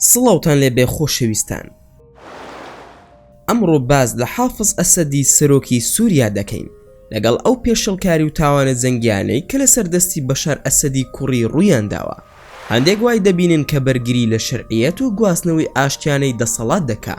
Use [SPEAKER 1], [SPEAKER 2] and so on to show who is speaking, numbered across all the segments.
[SPEAKER 1] سڵاوتان لێ بێ خۆشەویستان. ئەمڕۆ باس لە حافز ئەسەدی سەرۆکی سوریا دەکەین، لەگەڵ ئەو پێشێڵکاری و تاوانە جەنگیانەی کە لەسەر دەستی بەشار ئەسەدی کوڕی ڕوویانداوە، هەندێک وای دەبینن کە بەرگری لە شەرعیەت و گواستنەوەی ئاشتیانەی دەسەڵات دەکا،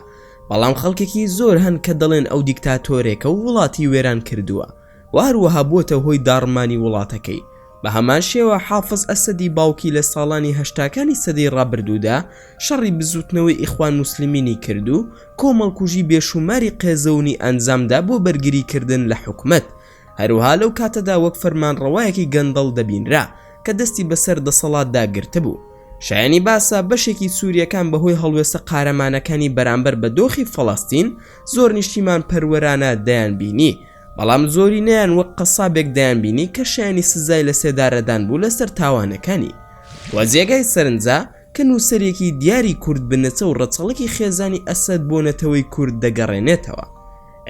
[SPEAKER 1] بەڵام خەڵکێکی زۆر هەن کە دەڵێن ئەو دیکتاتۆرێکە و وڵاتی وێران کردووە، و هەروەها بووەتە هۆی داڕمانی وڵاتەکەی. بە هەمان شێوە حافز ئەسەدی باوکی لە ساڵانی هەشتاکانی سەدەی ڕابردوودا شەڕی بزووتنەوەی ئیخوان موسلیمینی کرد و کۆمەڵکوژی بێشووماری قێزەونی ئەنجامدا بۆ بەرگریکردن لە حکومەت. هەروەها لەو کاتەدا وەک فەرمانڕەوایەکی گەندەڵ دەبینرا کە دەستی بەسەر دەسەڵاتدا گرتبوو. شایانی باسە بەشێکی سوورییەکان بەهۆی هەڵوێستە قارەمانەکانی بەرامبەر بە دۆخی فەڵەستین زۆر نیشتیمانپەروەرانە دەیانبینی، بەڵام زۆرینەیان وەک قەسابێک دەیانبینی کە شایانی سزای لە سێدارەدان بوو لەسەر تاوانەکانی و جێگای سەرنجە کە نووسەرێکی دیاری کورد بنەچە و ڕەچەڵەکی خێزانی ئەسەد بۆ نەتەوەی کورد دەگەڕێنێتەوە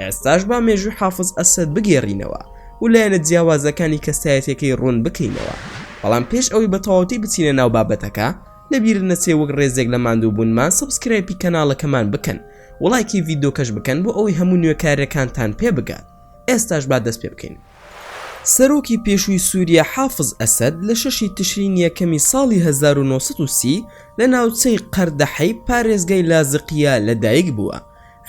[SPEAKER 1] ئێستاش با مێژووی حافز ئەسەد بگێڕینەوە و لایەنە جیاوازەکانی کەسایەتەکەی ڕوون بکەینەوە بەڵام پێش ئەوەی بە تەواوەتی بچینە ناو بابەتەکە لەبیرت نەچێ وەک ڕێزێک لە ماندووبوونمان سەبسکرایپی کەناڵەکەمان بکەن وڵایکی ڤیدۆکەش بکەن بۆ ئەوەی هەموو نوێکارەکانتان پێ بگات ئێستاش با دەست پێ بکەین. سەرۆکی پێشووی سووریا حافز ئەسەد لە شەشی تشرین یەکەمی ساڵی هەزار و نۆ سەد و سی لە ناوچەی قەردەحەی پارێزگای لازقییە لەدایکبووە،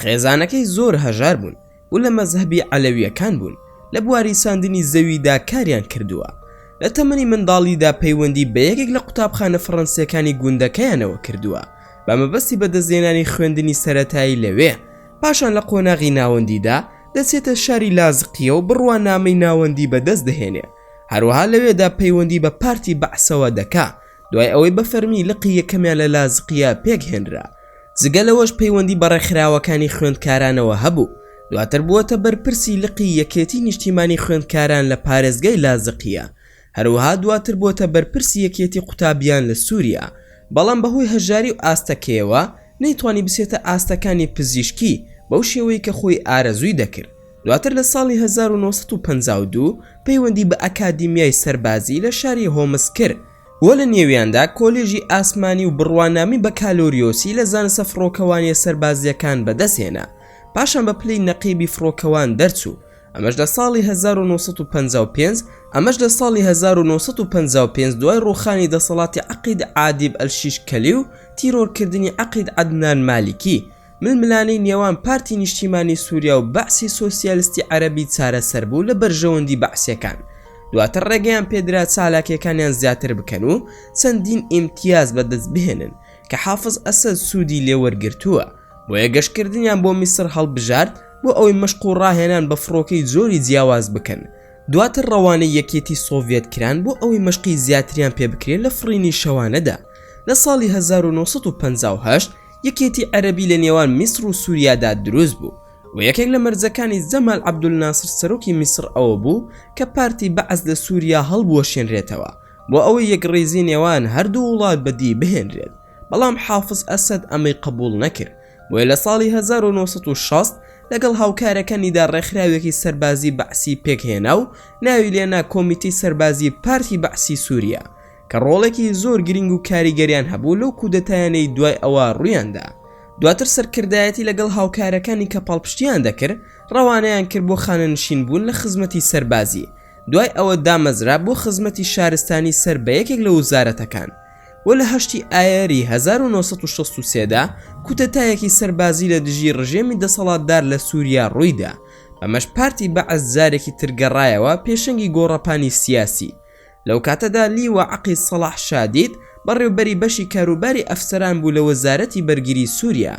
[SPEAKER 1] خێزانەکەی زۆر هەژار بوون، و لە مەزهەبی عەلەویەکان بوون لە بواری ساندنی زەویدا کاریان کردووە لە تەمەنی منداڵیدا پەیوەندی بە یەکێک لە قوتابخانە فەڕەنسیەکانی گوندەکەیانەوە کردووە بە مەبەستی بەدەستهێنانی خوێندنی سەرەتایی لەوێ پاشان لە قۆناغی ناوەندیدا دەچێتە شاری لازقیە و بڕوانامەی ناوەندی بەدەست دەهێنێ هەروەها لەوێدا پەیوەندی بە پارتی بەعسەوە دەکا دوای ئەوەی بە فەرمی لقی یەکەمیان لە لازقیە پێک هێنرا جگە لەوەش پەیوەندی بە ڕێکخراوەکانی خوێندکارانەوە هەبوو دواتر بووەتە بەرپرسی لقی یەکێتی نیشتیمانی خوێندکاران لە پارێزگای لازقیە هەروەها دواتر بووەتە بەرپرسی یەکێتی قوتابیان لە سوریا بەڵام بەهۆی هەژاری و ئاستەکەیەوە نەیتوانی بچێتە ئاستەکانی پزیشکی بەو شێوەی کە خۆی ئارەزووی دەکرد دواتر لە ساڵی هەزار و نۆ سەد و پەنجا و دوو پەیوەندی بە ئەکادیمیای سەربازی لە شاری هۆمس کرد و لە نێویاندا کۆلێژی ئاسمانی و بڕوانامی بەکالۆریۆسی لە زانستە فڕۆکەوانیە سەربازیەکان بەدەست هێنا پاشان بە پلەی نەقیبی فڕۆکەوان دەرچوو ئەمەش لە ساڵی هەزار و نۆ سەد و پەنجا و پێنج ئەمەش لە ساڵی هەزار و نۆ سەد و پەنجا و پێنج دوای ڕووخانی دەسەڵاتی عەقید عادیب ئەلشیش کەلی و تیرۆرکردنی عەقید عەدنان مالیکی ململانێی نێوان پارتی نیشتیمانی سوریا و بەعسی سۆسیالستی عەرەبی چارەسەر بوو لە بەرژەوەندی بەعسیەکان دواتر ڕێگەیان پێدرا چالاکیەکانیان زیاتر بکەن و چەندین ئیمتیاز بەدەست بهێنن کە حافز ئەسەد سودی لێ وەرگرتووە بۆیە گەشتکردنیان بۆ میسر هەڵبژارد بۆ ئەوەی مەشق و ڕاهێنان بە فڕۆکەی جۆری جیاواز بکەن دواتر ڕەوانەی یەکێتی سۆڤێت کران بۆ ئەوەی مەشقی زیاتریان پێبکرێت لە فڕینی شەوانەدا لە ساڵی 1958 یەکێتی عەرەبی لە نێوان میسڕ و سوریادا دروست بوو و یەکێک لە مەرجەکانی زەمال عەبدولناسر سەرۆکی میسڕ ئەوە بوو کە پارتی بەعس لە سوریا هەڵبوەشێنرێتەوە بۆ ئەوەی یەکڕیزی نێوان هەردوو وڵات بەدی بهێنرێت بەڵام حافز ئەسەد ئەمەی قبوڵ نەکرد بۆیە لە ساڵی 1960 لەگەڵ هاوکارەکانیدا ڕێکخراوێکی سەربازی بەعسی پێکهێنا و ناوی لێنا کۆمیتەی سەربازی پارتی بەعسی سوریا کە ڕۆڵێکی زۆر گرینگ و کاریگەریان هەبوو لەو کودەتایانەی دوای ئەوە ڕوویاندا دواتر سەرکردایەتی لەگەڵ هاوکارەکانی کە پاڵپشتیان دەکرد ڕەوانەیان کرد بۆ خانەنشین بوون لە خزمەتی سەربازی دوای ئەوە دامەزرا بۆ خزمەتی شارستانی سەر بە یەکێک لە وزارەتەکان و لە هەشتی ئایاری 1963 دا کودەتایەکی سەربازی لە دژی ڕژێمی دەسەڵاتدار لە سوریا ڕوویدا بەمەش پارتی بەعس جارێکی تر گەڕایەوە پێشەنگی گۆڕەپانی سیاسی لەو کاتەدا لیوا عەقید سەڵاح شادید بەڕێوبەری بەشی کاروباری ئەفسەران بوو لە وەزارەتی بەرگری سوریا.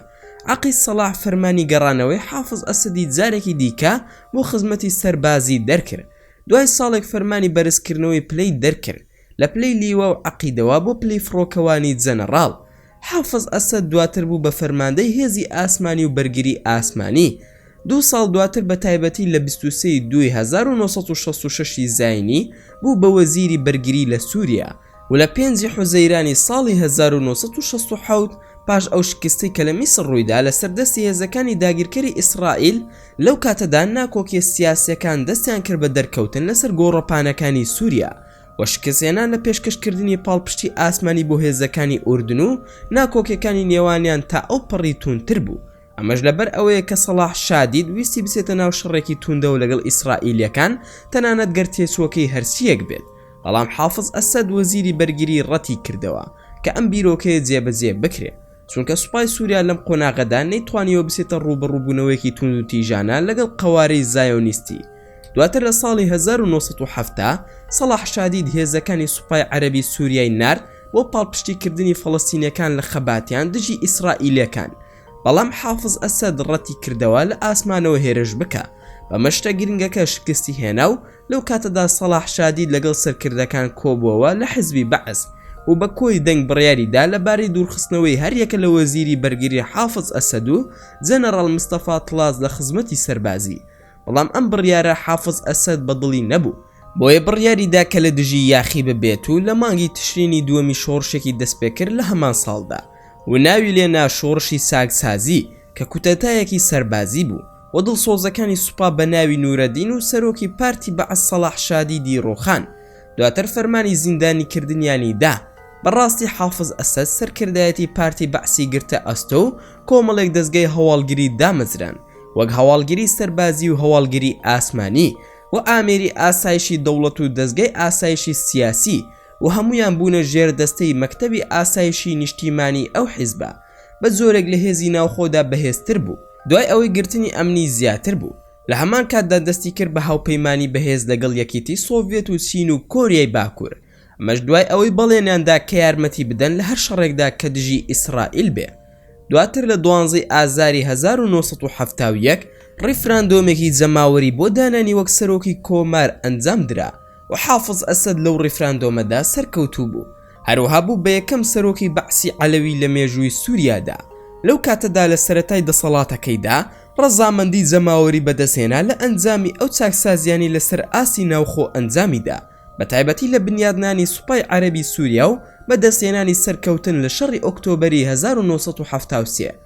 [SPEAKER 1] عەقید سەڵاح فەرمانی گەڕانەوەی حافز ئەسەدی جارێکی دیکە بۆ خزمەتی سەربازی دەرکرد. دوای ساڵێک فەرمانی بەرزکردنەوەی پلەی دەرکرد، لە پلەی لیوا و عەقیدەوە بۆ پلەی فڕۆکەوانی جەنەڕاڵ. حافز ئەسەد دواتر بوو بە فەرماندەی هێزی ئاسمانی و بەرگری ئاسمانی. دوو ساڵ دواتر بە تایبەتی لە بیست و سێ ی دووی هەزار و نۆ سەد و شەست و شەش ی زاینی بوو بە وەزیری بەرگری لە سوریا و لە پێنج ی حوزەیرانی ساڵی هەزار و نۆ سەد و شەست و حەوت پاش ئەو شکستەی کە لە میسر ڕوویدا لەسەر دەستی هێزەکانی داگیرکەری ئیسرائیل، لەو کاتەدا ناکۆکیە سیاسیەکان دەستیان کرد بە دەرکەوتن لەسەر گۆڕەپانەکانی سوریا و شکستهێنان لە پێشکەشکردنی پاڵپشتی ئاسمانی بۆ هێزەکانی ئوردن و ناکۆکیەکانی نێوانیان تا ئەو پەڕی تووندتر بوو، ئەمەش لەبەر ئەوەیە کە سەڵاح شادید ویستی بچێتە ناو شەڕێکی تووندەوە لەگەڵ ئیسرائیلیەکان تەنانەت گەر تێچووەکەی هەرچییەک بێت، بەڵام حافز ئەسەد وەزیری بەرگری ڕەتی کردەوە کە ئەم بیرۆکەیە جێبەجێ بکرێ. چونکە سوپای سوریا لەم قۆناغەدا نەیتوانیوە بچێتە ڕوو بە ڕووبوونەوەیەکی توندوتیژانە لەگەڵ قەوارەی زایۆنیستی دواتر لە ساڵی 1970 سەڵاح شادید هێزەکانی سوپای عەرەبی سوریای نارد بۆ پاڵپشتیکردنی فەڵەستینیەکان لە خەباتیان دژی ئیسرائیلەکان بەڵام حافز ئەسەد ڕەتی کردەوە لە ئاسمانەوە هێرش بکا بەمە شتە گرنگەکە شکستی هێنا و لەو کاتەدا سەڵاح شادی لەگەڵ سەرکردەکان کۆبووەوە لە حزبی بەعس و بە کۆی دەنگ بڕیاری دا لە بارەی دوورخستنەوەی هەریەکە لە وەزیری بەرگری حافز ئەسەد و جەنەڕاڵ مستەفا تڵاس لە خزمەتی سەربازی بەڵام ئەم بڕیارە حافز ئەسەد بە دڵی نەبوو بۆیە بڕیاری دا کە لە دژی یاخی ببێت و لە مانگی تشرینی دووەمی شۆڕشێکی دەستپێکرد لە هەمان ساڵدا و ناوی لێ نا شۆڕشی چاکسازی کە کوتەتایەکی سەربازی بوو. و دڵسۆزەکانی سوپا بە ناوی نورەدین و سەرۆکی پارتی بەعس سەڵاح شادیدی ڕووخان، دواتر فەرمانی زیندانیکردنیانی دا، بە ڕاستی حافز ئەسەد سەرکردایەتی پارتی بەعسی گرتە ئەستۆ و کۆمەڵێک دەزگای هەواڵگری دامەزران وەک هەواڵگری سەربازی و هەواڵگری ئاسمانی و ئامێری ئاسایشی دەوڵەت و دەزگای ئاسایشی سیاسی و هەموویان بوونە ژێردەستەی مەکتەبی ئاسایشی نیشتیمانی ئەو حیزبە بە جۆرێک لە هێزی ناوخۆدا بەهێزتر بوو، دوای ئەوەی گرتنی ئەمنی زیاتر بوو، لە هەمان کاتدا دەستی کرد بە هاوپەیمانی بەهێز لەگەڵ یەکیتی سۆڤێت و چین و کۆریای باکوور، ئەمەش دوای ئەوەی بەڵێنیان دا کە یارمەتی بدەن لە هەر شەڕێکدا کە دژی ئیسرائیل بێ. دواتر لە دوانزەی ئازاری هەزار و نۆ سەد و حەفتا و یەک، ڕیفراندۆمێکی جەماوەری بۆ دانانی وەک سەرۆکی کۆمار ئەنجام درا و حافز ئەسەد لەو ڕیفراندۆمەدا سەرکەوتوو بوو، هەروەها بوو بە یەکەم سەرۆکی بەعسی عەلەوی لە مێژووی سووریادا، لەو کاتەدا لە سەرەتای دەسەڵاتەکەیدا ڕەزامەندی جەماوەری بەدەستهێنا لە ئەنجامی ئەو چاکسازییانەی لەسەر ئاستی ناوخۆ ئەنجامی دا، بە تایبەتی لە بنیادنانی سوپای عەرەبی سووریا و بەدەستهێنانی سەرکەوتن لە شەڕی ئۆکتۆبەری هەزار و نۆ سەد و حەفتا و سێ.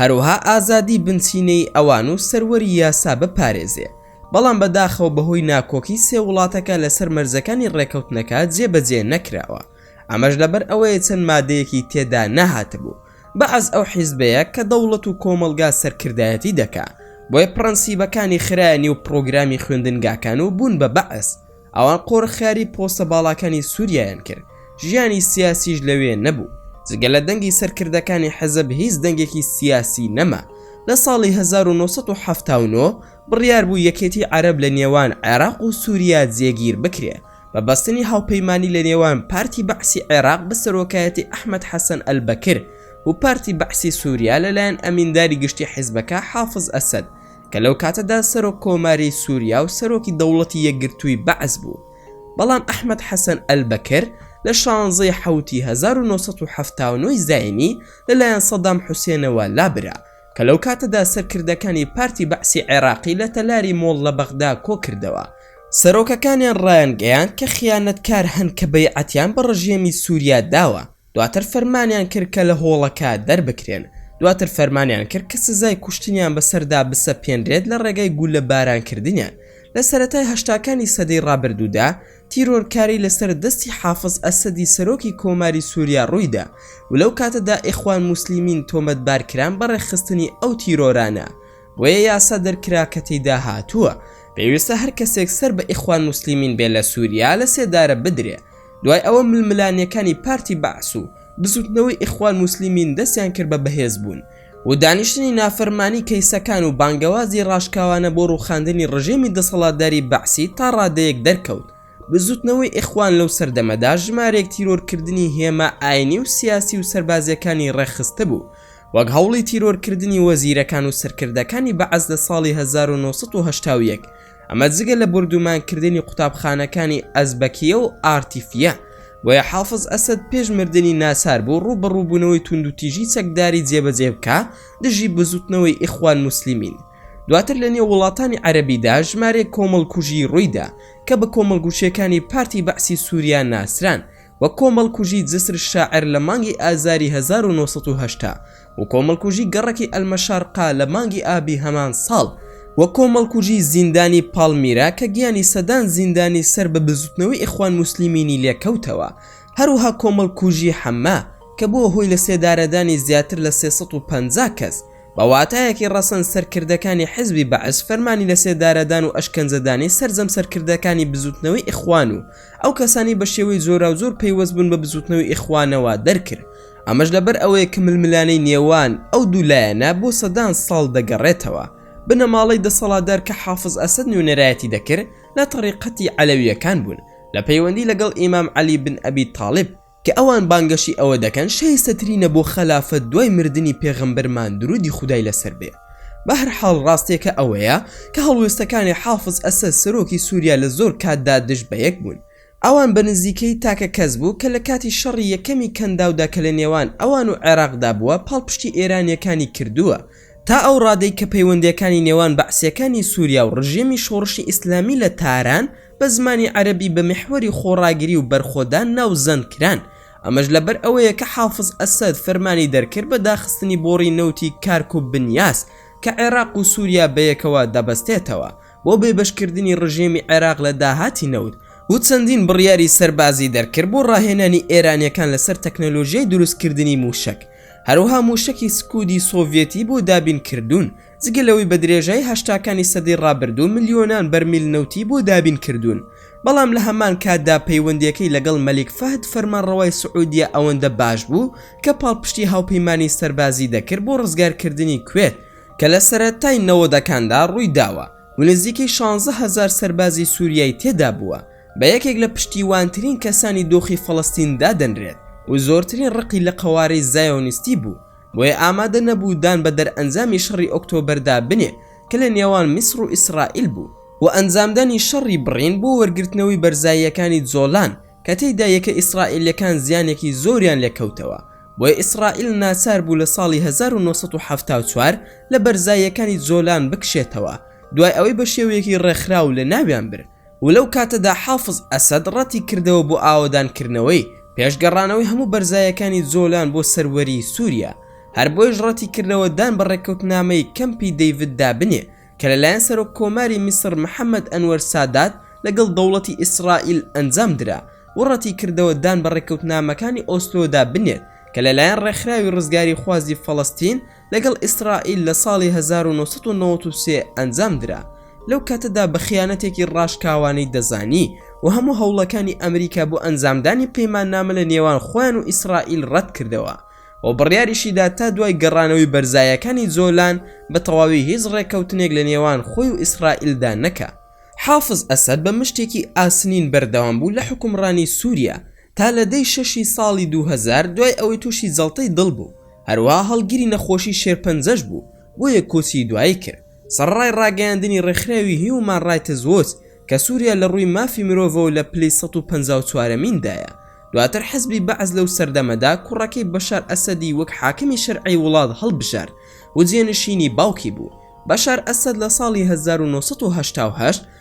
[SPEAKER 1] هەروەها ئازادی بنچینەیی ئەوان و سەروەری یاسا بپارێزێ، بەڵام بەداخەوە بەهۆی ناکۆکی سێ وڵاتەکە لەسەر مەرجەکانی ڕێکەوتنەکە جێبەجێ نەکراوە، ئەمەش لەبەر ئەوەیە چەند مادەیەکی تێدا نەهاتبوو، بەعس ئەو حیزبەیە کە دەوڵەت و کۆمەڵگا سەرکردایەتی دەکا، بۆیە پڕەنسیبەکانی خرایە نێو پڕۆگرامی خوێندنگاکان و بوون بە بەعس، ئەوان قۆرخکاری پۆستە باڵاکانی سوریایان کرد ژیانی سیاسیش لەوێ نەبوو جگە لە دەنگی سەرکردەکانی حەزب هیچ دەنگێکی سیاسی نەما لە ساڵی 1979 بڕیار بوو یەکێتی عەرەب لە نێوان عێراق و سوریا جێگیر بکرێ بە بەستنی هاوپەیمانی لە نێوان پارتی بەعسی عێراق بە سەرۆکایەتی ئەحمەد حەسەن ئەلبەکر و پارتی بەعسی سوریا لەلایەن ئەمینداری گشتی حیزبەکە حافز ئەسەد کە لەو کاتەدا سەرۆک کۆماری سووریا و سەرۆکی دەوڵەتی یەکگرتووی بەعس بوو، بەڵام ئەحمەد حەسەن ئەلبەکر لە شانزەی حەوتی هەزار و نۆ سەد و حەفتا و نۆ ی زایینی لەلایەن سەدام حوسێنەوە لابرا کە لەو کاتەدا سەرکردەکانی پارتی بەعسی عێراقی لە تەلاری مۆڵ لە بەغدا کۆکردەوە. سەرۆکەکانیان ڕایانگەیاند کە خیانەتکار هەن کە بەیعەتیان بە ڕژێمی سووریا داوە دواتر فەرمانیان کرد کە لە هۆڵەکە دەربکرێن. دواتر فەرمانیان کرد کە سزای کوشتنیان بەسەردا بسەپێنرێت لە ڕێگای گوللەبارانکردنیان. لە سەرەتای هەشتاکانی سەدەی ڕابردوودا، تیرۆرکاری لەسەر دەستی حافز ئەسەدی سەرۆکی کۆماری سوریا ڕوویدا و لەو کاتەدا ئیخوان موسلیمین تۆمەتبارکران بە ڕێکخستنی ئەو تیرۆرانە. بۆیە یاسا دەرکرا کە تێیدا هاتووە، پێویستە هەر کەسێک سەر بە ئیخوان موسلیمین بێت لە سوریا لەسێدارە بدرێت. دوای ئەوە ململانێکانی پارتی بەعس و بزوتنەوەی ئیخوان موسلیمین دەستیان کرد بە بەهێز بوون و دانیشتنی نافەرمانی کەیسەکان و بانگەوازی ڕاشکاوانە بۆ ڕوخاندنی ڕژێمی دەسەڵاتداری بەعسی تا ڕادەیەک دەرکەوت بزوتنەوەی ئیخوان لەو سەردەمەدا ژمارێک تیرۆر کردنی هێما ئاینی و سیاسی و سەربازیەکانی ڕێکخستبوو وەک هەوڵی تیرۆر کردنی وەزیرەکان و سەرکردەکانی بەعس لە ساڵی 1970 و یەک ئەمە جگە لە بردومانکردنی قوتابخانەکانی ئەزبەکیە و ئارتیفیە بۆیە حافظ ئەسد پێش مردنی ناچار بوو ڕوو بە ڕووبوونەوەی توند و تیژی چەکداری جێبەجێ بکە دژی بزوتنەوەی ئیخوان موسلیمین دواتر لە نێو وڵاتانی عەربیدا ژمارێک کۆمەڵکوژی ڕوویدا کە بە کۆمەڵگوشیەکانی پارتی بەعسی سووریا ناسران و کۆمەڵکوژی جسر شاعر لە مانگی ئازاری هەزار و نۆ سەد و هەشتا و کۆمەڵکوژی گەڕەکی ئەلمەشارقە لە مانگی ئابی هەمان ساڵ و کۆمەڵکوژی زیندانی پاڵمیرا کە گیانی سەدان زیندانی سەر بە بزوتنەوەی ئیخوان موسلیمینی لێکەوتەوە هەروەها کۆمەڵکوژی حەمە کە بووە هۆی لە سێدارەدانی زیاتر لە سێ سەد و پەنجا کەس بە واتایەکی ڕەسەن سەرکردەکانی حزبی بەعس فەرمانی لە سێدارەدان و ئەشکەنجەدانی سەرجەم سەرکردەکانی بزوتنەوەی ئیخوان و ئەو کەسانەی بە شێوەی جۆراوجۆر پەیوەست بوون بە بزووتنەوەی ئیخوانەوە دەرکرد، ئەمەش لەبەر ئەوەیە کە ململانێی نێوان ئەو دوو لایەنە بۆ سەدان ساڵ دەگەڕێتەوە، بنەماڵەی دەسەڵاتدار کە حافز ئەسەد نوێنەرایەتی دەکرد لە تەریقەتی عەلەوییەکان بوون لە پەیوەندی لەگەڵ ئیمام عەلی بن ئەبی تاڵیب، کە ئەوان بانگەشەی ئەوە دەکەن شایستەترینە بۆ خەلافەت دوای مردنی پێغەمبەرمان درودی خودای لەسەر بێ بەهەرحاڵ ڕاستیەکە ئەوەیە کە هەڵوێستەکانی حافز ئەسەد سەرۆکی سوریا لە زۆر کاتدا دژ بە یەک بوون ئەوان بە نزیکەیی تاکە کەس بوو کە لە کاتی شەڕی یەکەمی کەنداودا کە لە نێوان ئەوان و عێراقدا بووە پاڵپشتی ئێرانیەکانی کردووە تا ئەو ڕادەی کە پەیوەندیەکانی نێوان بەعسیەکانی سوریا و ڕژێمی شۆڕشی ئیسلامی لە تاران بە زمانی عەرەبی بە میحوەری خۆڕاگری و بەرخۆدان ناوزەند کران، ئەمەش لەبەر ئەوەیە کە حافز ئەسەد فەرمانی دەرکرد بە داخستنی بۆڕی نەوتی کارک و بنیاس کە عێراق و سوریا بەیەکەوە دەبەستێتەوە بۆ بێبەشکردنی ڕژێمی عێراق لە داهاتی نەوت و چەندین بڕیاری سەربازی دەرکرد بۆ ڕاهێنانی ئێرانیەکان لەسەر تەکنەلۆژیای دروستکردنی موشەک هەروەها موشەکی سکودی سۆڤێتی بۆ دابین کردوون جگە لەوەی بە درێژای هەشتاکانی سەدەی ڕابردوو ملیۆنان بەرمیل نەوتی بۆ دابین کردوون، بەڵام لە هەمان کاتدا پەیوەندییەکەی لەگەڵ مەلیک فەهد فەرمانڕەوای سعودیە ئەوەندە باش بوو کە پاڵپشتی هاوپەیمانانی سەربازی دەکرد بۆ ڕزگارکردنی کوێت، کە لە سەرەتای نەوەدەکاندا ڕووی داوە و نزیکەی شانزە هەزار سەربازی سوریای تێدا بووە، بە یەکێک لە پشتیوانترین کەسانی دۆخی فەڵەستین دادەنرێت و زۆرترین ڕقی لە قەوارەی زایۆنیستی بوو. بۆیە ئامادە نەبوو دان بە دەرئەنجامی شەڕی ئۆکتۆبەردا بنێ کە لە نێوان میسڕ و ئیسڕائیل بوو و ئەنجامدانی شەڕی بڕین بۆ وەرگرتنەوەی بەرزاییەکانی جۆلان کە تێیدا یەکە ئیسڕائیلیەکان زیانێکی زۆریان لێ کەوتەوە بۆیە ئیسڕائیل ناچار بوو لە ساڵی هەزار و نۆ سەد و حەفتا و چوار لە بەرزاییەکانی جۆلان بکشێتەوە دوای ئەوەی بە شێوەیەکی ڕێکخراو لە ناویان برد و لەو کاتەدا حافز ئەسەد ڕەتی کردەوە بۆ ئاوەدان کردنەوەی پێش گەڕانەوەی هەموو بەرزایەکانی جۆلان بۆ سەروەری سوریا هەر بۆیەش ڕەتی کردەوە دان بە ڕێککەوتنامەی کەمپی دەیڤد دا بنێ کە لەلایەن سەرۆک کۆماری میسڕ محەمەد ئەنوەر سادات لەگەڵ دەوڵەتی ئیسڕائیل ئەنجام درا و ڕەتی کردەوە دان بە ڕێککەوتنامەکانی ئۆسلۆ دا بنێت کە لەلایەن ڕێکخراوی ڕزگاریخوازی فەڵەستین لەگەڵ ئیسرائیل لە ساڵی هەزار و نۆ سەد و نەوەد و سێ ئەنجام درا لەو کاتەدا بە خیانەتێکی ڕاشکاوانەی دەزانی و هەموو هەوڵەکانی ئەمریکا بۆ ئەنجامدانی پەیماننامە لە نێوان خۆیان و ئیسرائیل ڕەت کردەوە و بڕیاریشی دا تا دوای گەڕانەوەی بەرزایەکانی جۆلان بە تەواوی هیچ ڕێککەوتنێک لە نێوان خۆی و ئیسرائیلدا نەکا. حافز ئەسەد بە مشتێکی ئاسنین بەردەوام بوو لە حوکمڕانی سووریا، تا لە دەی شەشی ساڵی دوو هەزار دوای ئەوەی تووشی جەڵتەی دڵ بوو، هەروەها هەڵگری نەخۆشی شێرپەنجەش بوو، بۆیە کۆچی دوایی کرد. سەڕەڕای ڕاگەیاندنی ڕێکخراوی هیومان ڕایتز وۆچ کە سوریا لە ڕووی مافی مرۆڤەوە لە پلەی سەد و پەنجا و چوارەمیندایە، دواتر حزبی بەعس لەو سەردەمەدا کوڕەکەی بەشار ئەسەدی وەک حاکمی شەرعی وڵات هەڵبژارد و جێنشینی باوکی بوو. بەشار ئەسەد لە ساڵی هەزار و نۆ سەد و هەشتا و هەشت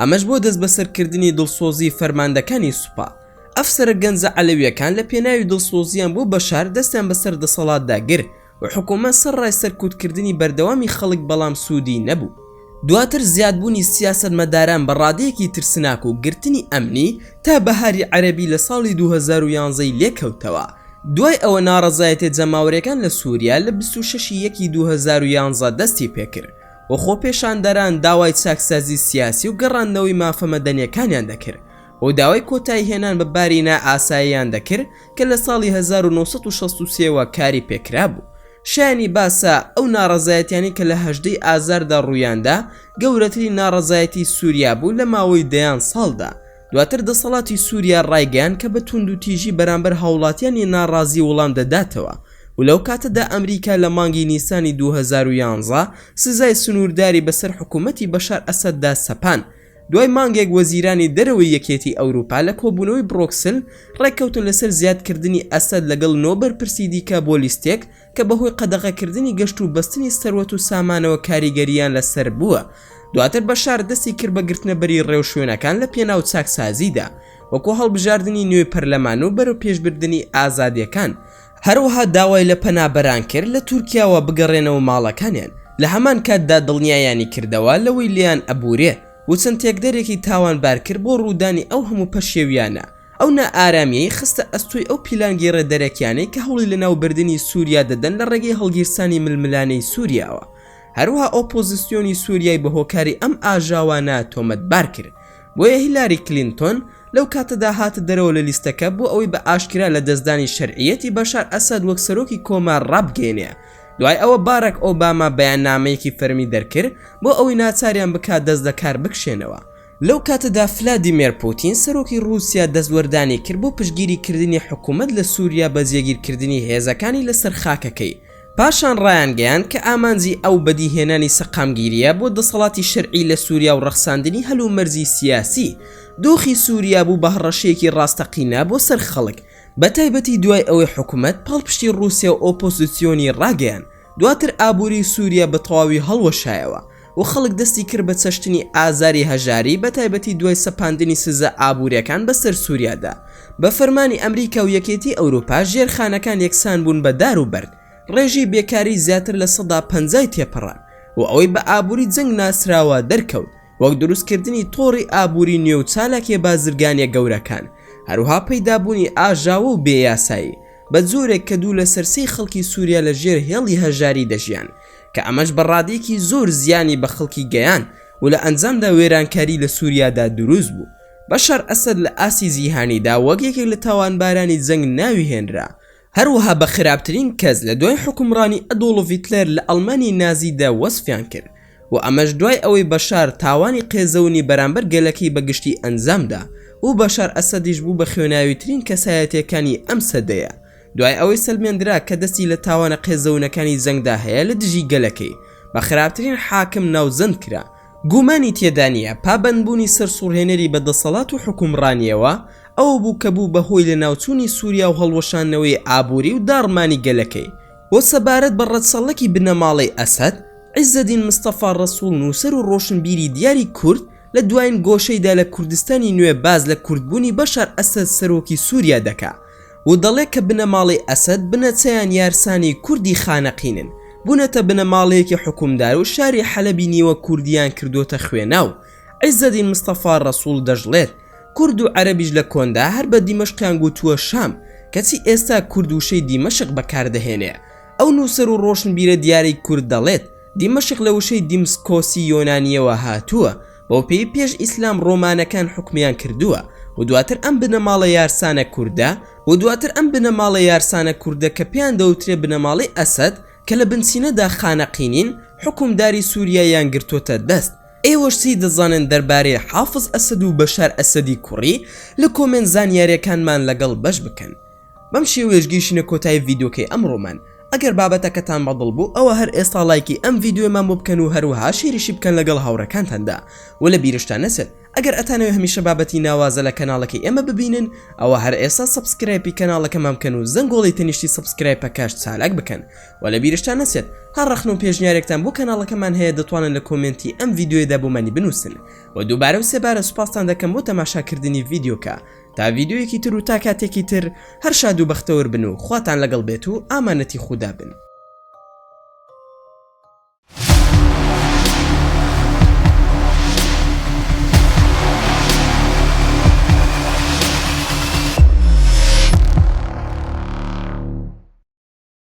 [SPEAKER 1] ئەمەش بۆ دەستبەسەرکردنی دڵسۆزی فەرماندەکانی سوپا. ئەفسەرە گەنجە عەلەویەکان لە پێناوی دڵسۆزییان بۆ بەشار دەستیان بەسەر دەسەڵاتدا گر و حکومەت سەرڕای سەرکوتکردنی بەردەوامی خەڵک بەڵام سوودی نەبوو. دواتر زیادبوونی سیاسەتمەداران بە ڕادەیەکی ترسناک و گرتنی ئەمنی تا بەهاری عەرەبی لە ساڵی دوو هەزار و یازدە ی لێکەوتەوە. دوای ئەوە ناڕەزایەتیە جەماوەریەکان لە سوریا لە بیست و شەش ی یەکی دوو هەزار و یازدە دەستی پێکرد و خۆپێشاندەران داوای چاکسازی سیاسی و گەڕاندنەوەی مافە مەدەنیەکانیان دەکرد و داوای کۆتایی هێنان بە باری نا ئاساییان دەکرد کە لە ساڵی 1963 وە کاری پێکرابوو شایانی باسە ئەو ناڕەزایەتیانەی کە لە 18 ی ئازاردا ڕوویاندا گەورەترین ناڕەزایەتی سوریا بوو لە ماوەی دەیان ساڵدا دواتر دەسەڵاتی سوریا ڕایگەیاند کە بە توندوتیژی بەرامبەر هاوڵاتیانی ناڕازی وڵام دەداتەوە و لەو کاتەدا ئەمریکا لە مانگی نیسانی دوو هەزار و یازدە سزای سنوورداری بەسەر حکوومەتی بەشار ئەسەددا سەپاند دوای مانگێک وەزیرانی دەرەوەی یەکێتی ئەوروپا لە کۆبوونەوەی برۆکسل ڕێککەوتن لەسەر زیادکردنی ئەسەد لەگەڵ نۆ بەرپرسی دیکە بۆ لیستێک کە بەهۆی قەدەغەکردنی گەشت و بەستنی سەروەت و سامانەوە کاریگەرییان لەسەر بووە، دواتر بەشار دەستی کرد بە گرتنەبەری ڕێوشوێنەکان لە پێناو چاکسازیدا، وەکو هەڵبژاردنی نوێی پەرلەمان و بەرەوپێشبردنی ئازادییەکان، هەروەها داوای لە پەنابەران کرد لە تورکیاوە بگەڕێنەوە ماڵەکانیان، لە هەمان کاتدا دڵنیایانی کردەوە لەوەی لێیان ئەبورێ و چەند تێکدەرێکی تاوانبار کرد بۆ ڕوودانی ئەو هەموو پەشێوییانە، ئەو نائارامییەی خستە ئەستۆی ئەو پیلانگێڕە دەرەکیانەی کە هەوڵی لەناوبردنی سووریا دەدەن لە ڕێگەی هەڵگیرسانی ململانێی سووریاوە، هەروەها ئۆپۆزسیۆنی سووریای بە هۆکاری ئەم ئاژاوانە تۆمەتبار کرد، بۆیە هیلاری کلینتۆن لەو کاتەدا هاتە دەرەوە لە لیستەکە بۆ ئەوەی بە ئاشکرا لەدەستدانی شەرعییەتی بەشار ئەسەد وەک سەرۆکی کۆمار ڕابگەیەنێ، دوای ئەوە باراک ئۆباما بەیاننامەیەکی فەرمی دەرکرد بۆ ئەوەی ناچاریان بکات دەست لە کار بکشێنەوە. لەو کاتەدا فلادیمێر پوتین سەرۆکی ڕووسیا دەستوەردانی کرد بۆ پشتگیری کردنی حکوومەت لە سووریا بە جێگیر کردنی هێزەکانی لە سەر خاکەکەی، پاشان ڕایانگەیاند کە ئامانجی ئەو بەدی هێنانی سەقامگیرییە بۆ دەسەڵاتی شەرعی لە سووریا و ڕەخساندنی هەلومەرجی سیاسی، دۆخی سووریا بوو بە هەڕەشەیەکی ڕاستەقینە بۆ سەر خەڵک، بە تایبەتی دوای ئەوەی حکوومەت پاڵپشتی ڕووسیا و ئۆپۆزسیۆنی ڕاگەیاند. دواتر ئابوری سوریا بە تەواوی هەڵوەشایەوە و خەڵک دەستی کرد بە چەشتنی ئازاری هەژاری بە تایبەتی دوای سەپاندنی سزا ئابوریەکان بە سەر سوریادا بە فەرمانی ئەمریکا و یەکێتی ئەوروپا ژێرخانەکان یەکسان بوون بە دار و بەرد ڕێژەی بێکاری زیاتر لە سەدا پەنجای تێپەڕاند و ئەوەی بە ئابوری جەنگ ناسراوە دەرکەوت وەک دروستکردنی تۆڕی ئابووری نوێ و چالاکییە بازرگانییە گەورەکان، هەروەها پەیدابوونی ئاژاوە و بێ یاسایی، بە جۆرێک کە دوو لەسەر سێی خەڵکی سووریا لە ژێر هێڵی هەژاری دەژیان، کە ئەمەش بە ڕادەیەکی زۆر زیانی بە خەڵکی گەیاند و لە ئەنجامدا وێرانکاری لە سووریادا دروست بوو. بەشار ئەسەد لە ئاستی جیهانیدا وەک یەکێک لە تاوانبارانی جەنگ ناوی هێنرا، هەروەها بە خراپترین کەس لە دوای حوکمڕانی ئەدۆڵف هیتلەر لە ئەڵمانیای نازیدا وەسفیان کرد و ئەمەش دوای ئەوەی بەشار تاوانی قێزەونی بەرامبەر گەلەکەی بە گشتی ئەنجامدا و بەشار ئەسەدیش بوو بە خوێناویترین کەسایەتییەکانی ئەم سەدەیە دوای ئەوەی سەلمێندرا کە دەستی لە تاوانە قێزەونەکانی جەنگدا هەیە لە دژی گەلەکەی بە خراپترین حاکم ناوزەند کرا گومانی تێدا نییە پابەندبوونی سەرسوڕهێنەری بە دەسەڵات و حوکمڕانییەوە ئەوە بوو کە بوو بە هۆی لەناوچوونی سووریا و هەڵوەشاندنەوەی ئابووری و داڕمانی گەلەکەی و سەبارەت بە ڕەچەڵەکی بنەماڵەی ئەسەد، عیزەدین مستەفا ڕەسووڵ نووسەر و ڕۆشنبیری دیاری کورد لە دوایین گۆشەیدا لە کوردستانی نوێ باس لە کوردبوونی بەشار ئەسەد سەرۆکی سووریا دەکا. و دەڵێت کە بنەماڵەی ئەسەد بنەچەیان یارسانی کوردی خانەقینن، بوونەتە بنەماڵەیەکی حوکمدار و شاری حەلەبی نیوە کوردییان کردووەتە خوێنا و عیزەدین مستەفا ڕەسوڵ دەشڵێت کورد و عەرەبیش لە کۆندا هەر بە دیمەشقیان گوتووە شام کەچی ئێستا کورد وشەی دیمەشق بەکاردەهێنێ ئەو نووسەر و ڕۆشنبیرە دیارەی کورد دەڵێت دیمەشق لە وشەی دیمسکۆسی یۆنانییەوە هاتووە بەوپێی پێش ئیسلام ڕۆمانەکان حوکمیان کردووە و دواتر ئەم بنەماڵە یارسانە کوردە و دواتر ئەم بنەماڵە یارسانە کوردە کە پێیان دەوترێ بنەماڵەی ئەسەد کە لە بنچینەدا خانەقینین حوکمداری سوریایان گرتۆتە دەست ئێوەش چی دەزانن دەربارەی حافز ئەسەد و بەشار ئەسەدی کوڕی لە کۆمێنت زانیارێکانمان لەگەڵ بەش بکەن. بەم شێوەیەش گەیشینە کۆتایی ڤیدۆکەی ئەمڕۆمان ئەگەر بابەتەکەتان بەدڵ بوو ئەوە هەر ئێستا لایکی ئەم ڤیددیوێمان بۆ بکەن و هەروەها شێریشی بکەن لەگەڵ هاوڕەکانتاندا و لە بیرشتان نەچێت ئەگەر ئەتانەوێ هەمیشە بابەتی ناوازە لە کەناڵەکەی ئێمە ببینن ئەوە هەر ئێستا سبسکرایپی کەناڵەکەمان بکەن و زەنگۆڵی تەنیشتی سبسکرایپەکەش چالاک بکەن و لە بیرشتان نەچێت هەر ڕەخن و پێشنیارێکتان بۆ کەناڵەکەمان هەیە دەتوانن لە کۆمنتی ئەم ڤیددیوێدا بۆمانی بنووسن و دووبارە و سێبارە سوپاستان دەکەم بۆ تەماشاکردنی ڤیددیوکە تا ڤیدیۆیەکی تر و تا کاتێکی تر هەر شاد و بەختەوەر بن و خواتان لەگەڵ بێت و ئامانەتی خودا بن.